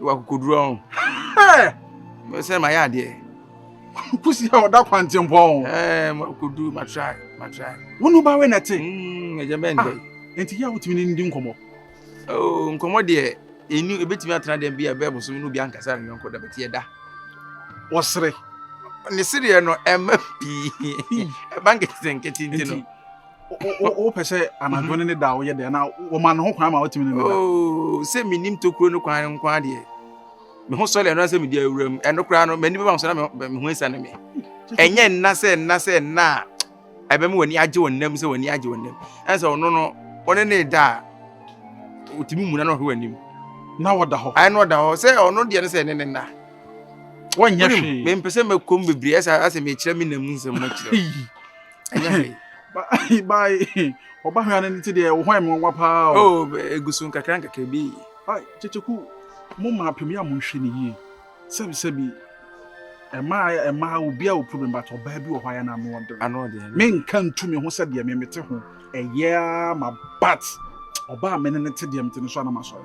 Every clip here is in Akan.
wɔ akokoduru ɔn. Mɛsɛ ma yɛ adeɛ. Kusi a ɔda kwante mpɔ ɔn. Ɛɛ ma akokoduru ma try ma try. Wɔn ba wɛ na te. Ɛgya bɛ ndɛ. Nti yɛ a wotumi ne ndi nkɔmɔ. Oo nkɔmɔ deɛ enu ebetumi atena deɛ bi a bɛɛ bosom no bi ankasa ne yɔnko da bɛte yɛ da. Wɔsere. Ne sereɛ no ɛmɛ pii. Ɛba nkete nkete nti no. wopɛ sɛ anadwo ne ne da a woyɛ dɛ anaa wɔma ne ho kwan ma wotumi ne ne da oh, sɛ menim tokuro no kwan nko adeɛ me ho sɔle ɛno sɛ medi awura mu ɛno koraa no m'ani bɛma so na me ho asiane me ɛnyɛ nna sɛ nna sɛ nna a ɛbɛma w'ani agye wɔ nnam sɛ w'ani agye wɔ nnam ɛne sɛ ɔno no ɔne ne da a ɔtumi muna no ɔhwe w'anim na wɔda hɔ ɛne ɔda hɔ sɛ ɔno deɛ no sɛ ɛne ne nna wɔnyɛ hwee mempɛ sɛ mɛkɔm bebree ɛsɛ asɛ mekyerɛ me nam nsɛm makyerɛ ɛnyɛ hwee. Bye bye. Ɔba hwɛ ano nti deɛ ɔhɔn mu nwa paa o. Oh, egu so nkakra nkakra bi. Ai, kyekyeku, mo mmaa pɛ mu yɛ a monhwɛ ne yie. Sɛbisɛbi, ɛmaa ɛmaa obi a wɔ problem but ɔbaa bi wɔ hɔ a yɛ na ano ɔden. Ano ɔden. Menka ntu me ho sɛ deɛ me mete ho ɛyɛ ara ma but ɔbaa me ne no te deɛ mete no so a na masɔre.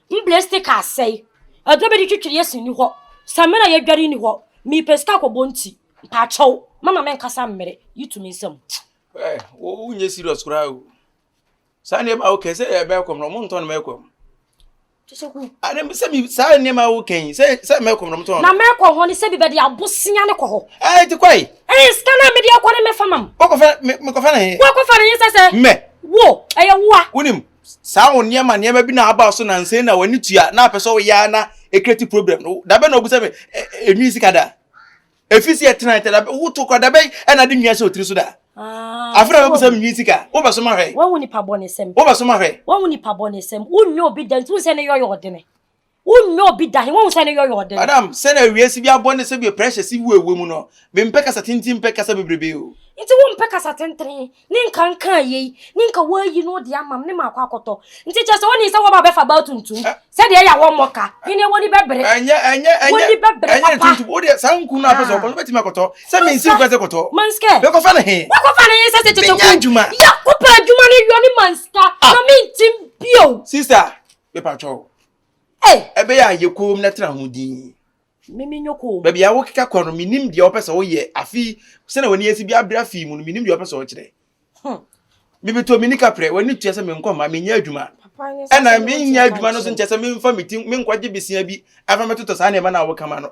Mbrɛ sticker asɛe, ɔdɔ bɛdi twetwe Yesu nni hɔ, Samina yɛdware nni hɔ, Meepɛ sika kɔbɔ ntsi, Mpaakyɛw, mama menkasa mmerɛ, YouTube me nsam. Ɛɛ wo wo nyɛ serious koraa o saa nneɛma a wokɛn sɛ ɛbɛyɛ kɔm na ɔmo ntɔn mɛ kɔm. Tusoku. Ɛnɛ mi sɛ mi saa nneɛma a wokɛn yi sɛ sɛ mɛ kɔm na ɔmo tɔn. Na mɛ kɔ hɔ ne sɛ bi bɛde abosea ne kɔ hɔ. Ɛɛ ti kɔ yi. Ɛɛ sika naa mi de ɛkɔ ne mɛ fa mam. Wɔkɔfa mi mi kɔfa ne he. Wɔkɔfa ne he sɛ sɛ. Mɛ. Wo ɛyɛ woa. Wonim saa wo nneɛma nneɛma bi na aba so na nsɛn na w'ani tua na apɛ sɛ woyɛ a na ɛkreti problem no da bɛ na ɔbu sɛ me ɛnwi sika da ɛfi sɛ ɛtena ɛtɛ da bɛ woto kora da bɛ ɛna de nwia hyɛ ɔtiri so da ah, afei na bɛbu sɛ menwi sika wobɛsoma hwɛ wobɛsoma hwɛ wonyɛ obi da nti wo sɛ ne yɔyɛ ɔdene wonyɛ obi da he wohu sɛ ne yɔyɔ ɔde no madam sɛ na wiase bi abɔ ne sɛ bia pressure si wo ɛwɔ mu no mempɛ kasa tenten mpɛ kasa bebrebe o nti wompɛ kasa tentene ne nka nka yei ne nka woayi no de amam ne maakɔ akɔtɔ nti kyɛ sɛ woni sɛ woba bɛfa baa tuntum eh. sɛdeɛ ɛyɛ awɔ mmɔ ka hene wɔni bɛbere ɛnyɛ ɛnyɛ ɛnyɛ ɛnyɛ tuntum wodeɛ saa nku no apɛ sɛ ɔkɔ so bɛtumi akɔtɔ sɛ mensi wokɔ sɛ kɔtɔ manskɛ bɛkɔfa no he wakɔfa no he sɛ sɛ kyɛkyɛ ku yɛ wopɛ adwuma no yɔ ne manska ah. na mentim bio sister mepatwɔ ɛbɛyɛ a yɛ kɔn mu na tena ho din mimi nyɔ kɔn mu baabi a wokeka kɔ no menim deɛ wɔpɛ sɛ woyɛ afi sɛna w'ani asi bi abere afi mu no menim deɛ wɔpɛ sɛ wɔkyerɛ hmm. mebɛtɔ me nika prɛ w'ani tua sɛ menkɔma menyɛ adwuma ɛna menyɛ adwuma no so nkyɛ sɛ memfa metim menkɔgye besia bi afa mɛtotɔ saa nneɛma no a wokama no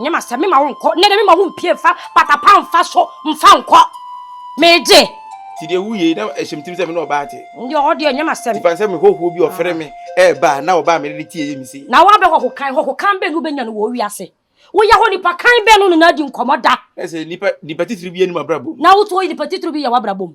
Nyɛ m'asɛm, me ma wo nkɔ. Nnɛ de me ma wo mpie mfa pata pa mfa so mfa nkɔ. Megye. Ti deɛ wo yei na ɛhyɛ me tim sɛ me ne ɔbaa te. Ndeɛ ɔhɔ deɛ nyɛ m'asɛm. Ti fan sɛ me hɔhoɔ bi ɔfere me ɛɛba a na ɔbaa a mene ne te ɛyɛ me sei. Na woabɛ hɔho kan, hɔho kan bɛn ne wobɛnya no wɔ wo wiase? Wo yɛ hɔ nipa kan bɛn ne wone no adi nkɔmɔ da? Ɛsɛ nipa, nipa titiri bi anim abrabɔ mu. Na woto nipa titiri bi yɛ w'abrabɔ mu.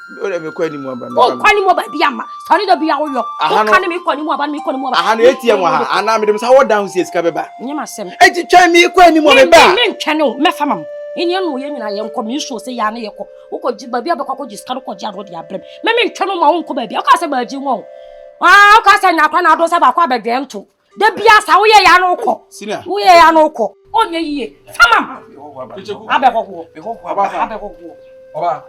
o de mi kɔ anim aba mi. o kɔ anim aba bi ama sɔɔni dɔ bi ya o yɔ. o kan mi kɔ anim aba mi kɔ anim aba. ahanu eti emu aha ana mi de mi sa wɔ dan si esika bɛ ba. n yɛ ma sɛm. e ti twɛn mi kɔ anim ɔbɛ ba. mi mi ntwɛn o mɛ fa ma mu ɛni ɛnu yɛ nyina yɛ nkɔ mi nsu ose yɛ ana yɛ kɔ o kɔ gyi baabi abɛ kɔ akɔ gyi sika no kɔ gyi ano de abɛ mi mɛ mi ntwɛn o ma o nkɔ baabi o ka sɛ baabi wɔn o aa o ka sɛ nyakora na ado sɛ baako abɛ dwɛn to. da bia sa woyɛ ya no wokɔ woyɛ ya no wokɔ ɔnyɛ yie samam abɛhɔhoɔ abɛhɔhoɔ ɔba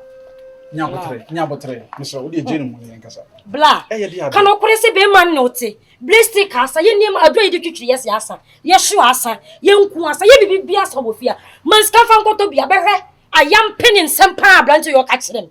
nyabotere nyabotere mesrɛ wode ɛgye no mu yɛ nkasa bla ka no kore sɛ bɛma ne wote bere stick asa yɛ nneɛma adwo a yɛde twitwiri yɛ se asa yɛhyew asa yɛnku asa yɛ biribi bi asa wɔ fie a ma nsika fa nkɔtɔ bi abɛhwɛ ayam pene nsɛm paa aberante yɛ ɔka kyerɛ me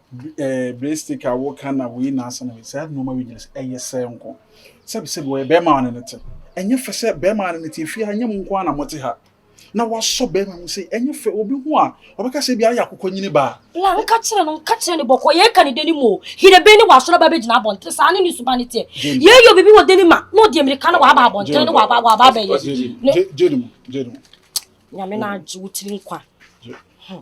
breadstick a woka na wei na asa na wei saa nneɛma wei nyina sɛ ɛyɛ sɛ nko sɛbi sɛbi wɔyɛ bɛrima a ne ne te ɛnyɛ fɛ sɛ bɛrima a ne ne te fie ha nyɛ mo nko ara na mote ha na wasɔ bɛrima mu sɛ ɛnyɛ fɛ obi ho a ɔbɛka sɛ bi ayɛ akokɔ nyini baa la nka kyerɛ no nka kyerɛ ne bɔkɔ yɛ ka ne dani mu o hinebe ne wasɔrɔ ba bɛgyina abɔnten saa ne ne suba ne teɛ yɛ yɛ obi bi wɔ dani ma na ɔde amirika na waba abɔnten ne waba waba abɛyɛ ne gyeni mu gyeni mu nyame na agye wo tiri nkwa hmm.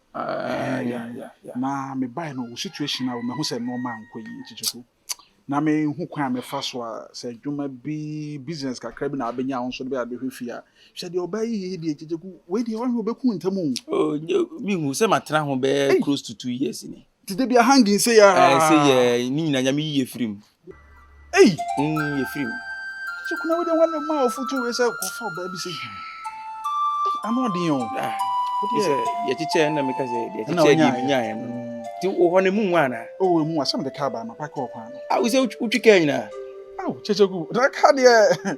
Ɛɛ ya ya ya. Na me bae no wo situation a mahu sɛ nneɛma nkɔ yie nti so na menhu kwan a mɛfa so a sɛ adwuma bi business kakra bi na abɛnya a wo nso de bɛyɛ abɛhwɛ fie a hwɛ deɛ ɔbaa yi yɛ yi deɛ nti so wei deɛ ɔhwɛ ɔbɛku ntam o. Oh, menhu sɛ matena ho bɛyɛ close to two years ni. Ti de bi ahangi nse ya. Ɛɛ nse yɛ ne nyina nyame yi yɛ firim. Ei. Mm yɛ firim. Sɛ kuna wode wɔn ne ma ɔfoto wei sɛ kɔfa ɔbaa bi sɛ yi. Ano ɔden o. Ah. Sɛ yɛkyekyɛ na meka sɛ yɛkyekyɛ deɛ menyaeɛ no. Nti wɔ hɔ no mu nwa anaa? Oh emu asɛm de kaa baa ma pa kɔɔ kwan no. Ah wo sɛ wotwi kaa nyinaa? Aw kyɛkyɛ gu. Na kaa deɛ.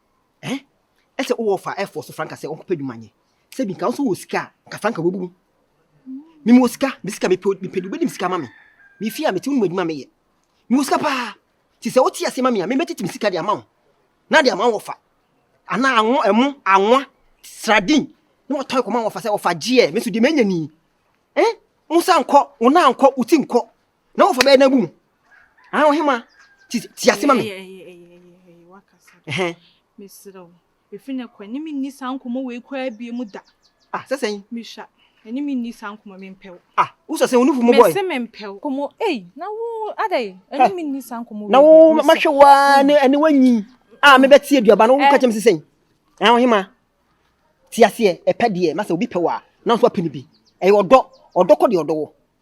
Ɛɛ ɛsɛ wo wɔfa air force franka sɛ ɔnkɔpɛ adwuma nyɛ sɛ bi nka wo nso wɔ sika a nka franka wabu mu me mu wɔ sika me sika mepɛ mepɛ de wobɛdim sika ma me me fie a mete wo nom adwuma meyɛ me wɔ sika paa ti sɛ wote aseɛ ma me a memɛtete me sika de ama wo na de ama wɔfa anaa anwo ɛmo anwa sradin na watɔe kɔma wɔfa sɛ wɔfa gyeɛ me nso deɛ manya ni eh wo nsa nkɔ wo nan nkɔ wo ti nkɔ na wɔfa bɛyɛ n'abu mu ana wɔhe ma ti ti ase ma me mesrɛ wo ɛfiri no kɔ ɛne menni saa nkɔmmɔ wei koraa bie mu da ah sɛ sɛn mehwa ɛne menni saa nkɔmmɔ mempɛw ah wosɛ sɛ wonufu mu bɔe mese mempɛw kɔmmɔ ei na wo adɛn ɛne menni saa nkɔmmɔ wei na wo mahwɛ wo a ne ɛne wanyi a ah, mebɛte aduaba no woka eh. kyɛm se sɛn na wohe ma ti aseɛ ɛpɛ deɛ masɛ obi pɛ wɔ a na nso apɛ no bi ɛyɛ ɔdɔ ɔdɔ kɔ deɛ ɔdɔ wɔ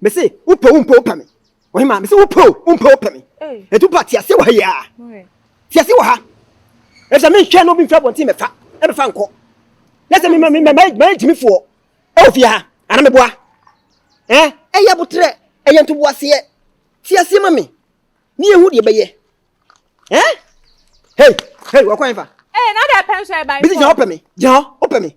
mese wopɛ wo mpɛ wopɛ me ɔhema mese wopɛ o wompɛ wopɛ me ɛti wopɛ ateaseɛ wɔ ha yia teaseɛ wɔ ha ɛfisɛ menhwɛ na obi mfiri abɔnten mɛfa ɛmɛfa nkɔ na sɛ mayɛ gyimifoɔ ɛwɔ fie ha ana meboa ɛyɛ aboterɛ ɛyɛ ntoboaseɛ teaseɛ ma me ne yɛhu deɛ bɛyɛ hei hei wɔkɔ ɛmfa bisi gyina hɔ pɛ me gyina hɔ wopɛ me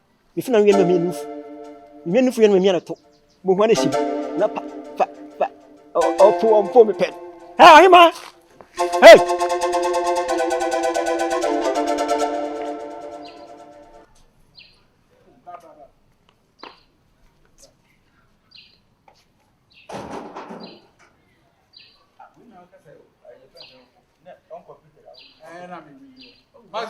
Me funu awia no ma mia nufu. Me mia nufu awia no ma mia nato. Mo hua ne sim. Na pa pa pa. Opo ompo me pen. Hey, ahima. Hey. Hey, na me. Mas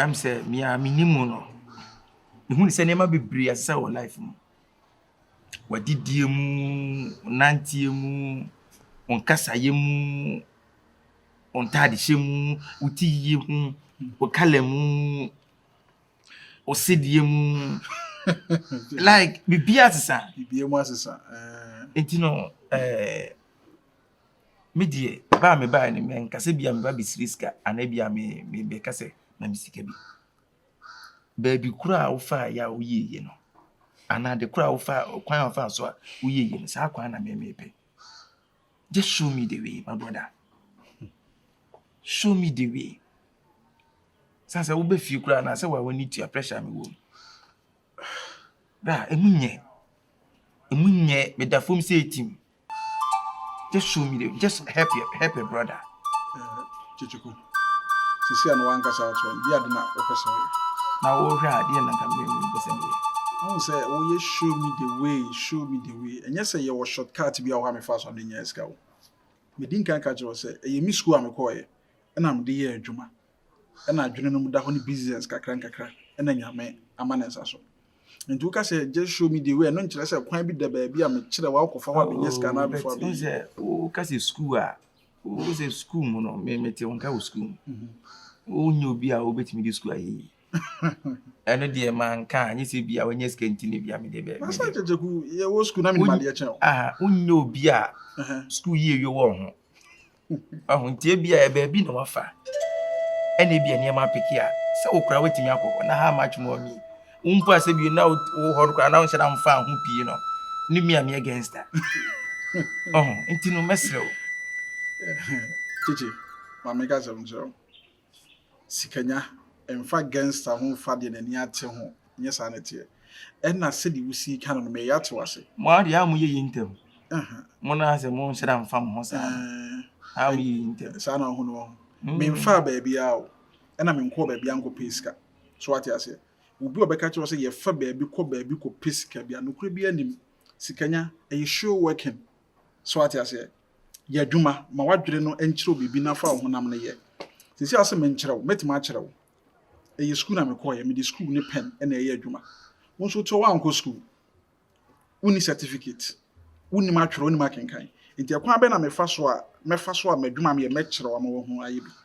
Ɛm sɛ me a me nim wo no me hu ne sɛ nneɛma bebree asesa wɔ life mu wadidie mu nanteɛ mu ɔnkasayɛ mu ɔntaadehyɛ mu woti yie mu ɔkala mu ɔsedeɛ mu like biribi asesa biribi mu asesa ɛɛ eh. nti no ɛɛ. Eh, Me deɛ ba a mebaeɛ no menka sɛ bi a meba bɛsrɛ sika anaa bi a mebɛka sɛ ma me sika bi. Baabi korɔ a wofaeɛ a woyieeɛ no anaa ade korɔ a wofaa kwan a wofaa so a woyieeɛ no saa kwan na me mepɛ. Just show me the way my brother. Show me the way. Sɛ sɛ wobɛ fie koraa anaa sɛ w'ani tua pressure a mewɔ mu. Bra, ɛmu nyɛ, ɛmu nyɛ, meda fam sɛ ɛtim. Just show me the, just help your, help your brother. Eh, Chichiku. Sisi ano wankasa ato no. Bi ade na wopɛ sɛ woyɛ. Na wohwɛ a, deɛ na nka mmemme sɛ meyɛ. Ahu sɛ woyɛ show me the way, show me the way. Ɛnyɛ sɛ yɛwɔ shortcut bi a woha mefa so ade nyɛ sika wo. Medi nkan ka kyerɛ wo sɛ, ɛyɛ me sukuu a mekɔɔeɛ ɛna mede yɛ adwuma. na adwene no mu da hɔ no business kakra nkakra na Nyame ama ne nsa so. Nti woka sɛ just show me the way no nkyerɛ sɛ kwan bi da baabi a mekyerɛ wo akɔfa hɔ a menyɛ sika no abɛfo abɛyi. Wohu sɛ woka sɛ sukuu a wohu sɛ sukuu mu no mete wo nka wɔ sukuu mu. Mhm. Wonyɛ obi a wobɛtumi de sukuu ayɛ yi. ɛno deɛ manka anyɛ sɛ bia wanyɛ sika nti no bia mede bɛ masa kyekyeku yɛwɔ sukuu na menim adeɛ kyɛn wo aha wonyɛ obi a sukuu yie wie wɔ ho Wahu nti ebia yɛ baabi na wafa ɛna ebia nneɛma apeke a sɛ wo koraa woatumi akɔ hɔ na how much more me wo mpo a sɛ bio na wo hɔ no koraa na wonhyɛ da mfa ho pii no ne me a meyɛ gangster ɔho nti no mɛserɛ wo kyekye ma meka sɛm kyerɛ wo sikanya mfa gangster ho mfa deɛ nani ate ho nyɛ saa na ɛteɛ ɛna sɛdeɛ wosii ka no no meyɛ ate wase. Mo ara deɛ a mo yɛ yi ntɛm mo no ara sɛ mo nhyira mfa mo ho saa no ara mo yɛ yi ntɛm. Saa na ɔho no ɔho me mfaa baabi ara o ɛna me nkɔɔ baabi ara nkɔ pɛ sika so wate aseɛ obi a ɔbɛka kyerɛ wo sɛ yɛfa baabi kɔ baabi kɔ pɛ sika bia nokorɛ biara nnim sikanya ɛyɛ show working. So ate aseɛ? Yɛ adwuma ma w'adwene no nkyerɛw biribi na fa wo honam no yɛ. Seesei ase menkyerɛ wo, mɛtumi akyerɛ wo. Ɛyɛ sukuu na mekɔeɛ, mede sukuu ne pɛn na ɛyɛ adwuma. Wo nso woteɛ woankɔ sukuu, wonni certificate, wonim atwerɛ, wonim akenkan. Nti ɛkwan bɛn na mefa so a, mɛfa so a m'adwuma a meyɛ mɛkyerɛ wo ama woahu ayɛ bi.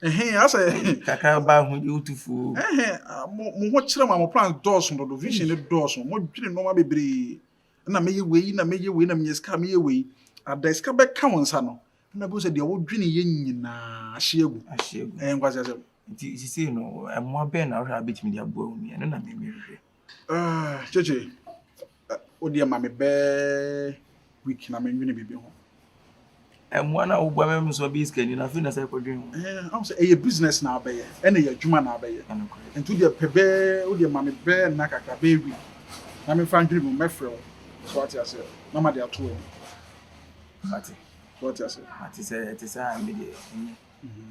Ɛhɛn asɛ. Kakra ba ho yɛ wotu fo. Ɛhɛn mo mo ho kyerɛ mo a mo plans dɔɔso dodo vision no dɔɔso mo dwene nneɛma bebree na mɛyɛ wei na mɛyɛ wei na menya sika mɛyɛ wei ada sika bɛka wo nsa no na bɛhu sɛ deɛ wodwene yɛ nyinaa ahye agu. Ahye agu. Ɛyɛ nkwasi asɛm. Nti sisi no ɛmoa bɛn na wohwɛ a bɛtumi de aboa wo nua no na mɛmɛhwɛ. Gyegye, wo deɛ ma me bɛɛ week na mennwene biribi ho. Mmoa no a woboa me me nso abɛyɛ sikani no afei na sɛ ɛkɔdwen ho. Ɛho sɛ ɛyɛ business na abɛyɛ ɛna ɛyɛ adwuma na abɛyɛ. Nti wodeɛ pɛ bɛɛ wo deɛ ma me bɛɛ nna kakra bɛyɛ week na memfa ndwene mu mɛfrɛ wo so ate aseɛ na ma de ato w'ani. Ate. So ate aseɛ. Ate sɛ ɛte sɛ a me deɛ ɛnyɛ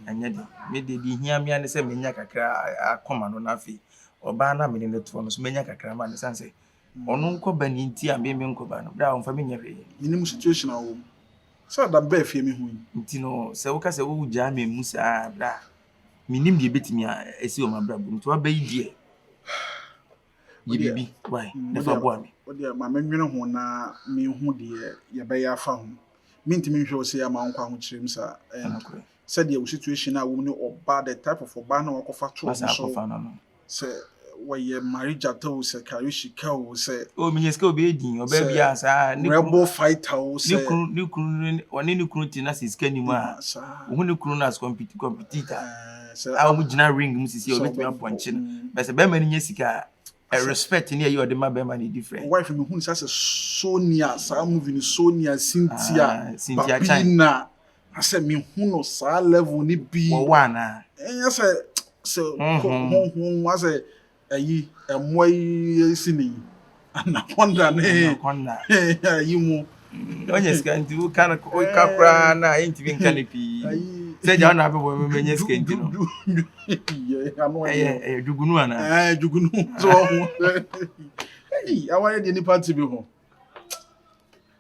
ɛnyɛ de me deɛ deɛ hia me ne sɛ menya kakra akɔma no na afei Ɔbaa no a me ne no toɔ no nso manya kakra ma no ɛsiane sɛ ɔno nkɔ ba ni nti a me me nkɔ ba no berɛ a ɔmfa me nyɛ hwee. Menim situation a ɔwɔ mu. Sɛ Adam baa fie a mehu yi. Nti no sɛ woka sɛ wo gyaa me mu saa a berɛ a menim deɛ ɛbɛtumi a asi wɔ m'abrabɔ mu nti waba yi deɛ yɛ biribi wai na fa boa me. Wo deɛ ma me nwene ho na menhu deɛ yɛbɛyɛ afa ho. Mentumi nhwɛ wo sei a ma wonkɔ ahokyerem saa. Ɛyɛ nokorɛ. sɛdeɛ wo situation a wom ne ɔbaa the type of ɔbaa na wakɔfa too wo so sɛ wɔyɛ Marie Gyata o sɛ Karishika o sɛ o menya sika obɛyɛ din ɔbaa biaa saa ne kunu rebel fighter o sɛ ne kunu ne kunu ɔne ne kunu te na sɛ sika nim a wohu ne kunu no as compete competitor a wɔn gyina ring mu sisi a wɔbɛtumi apɔnkye no bɛ sɛ bɛrima no nya sika a respect ne ɛyɛ ɔde ma bɛrima no different wife no hu sɛ sɛ Sonia saa movie no Sonia Cynthia Babina Asɛ me hu no saa level ni bi. Wɔ wɔ ana. Ɛnyɛ sɛ sɛ honhom asɛ ɛyi ɛmoa yi si ni anaconda ne ɛyi mu. Ɔnyɛ sika nti wo kan wo ka koraa na ɛyɛ ntumi nka ne pii. Sɛ gya ɔna abɛbɔ mɛmɛ nyɛ sika nti no. Ɛyɛ ɛyɛ dwugunu ana. Ɛɛ dwugunu so ɔho. Ɛyi awayɛ deɛ nipa ti bi ho.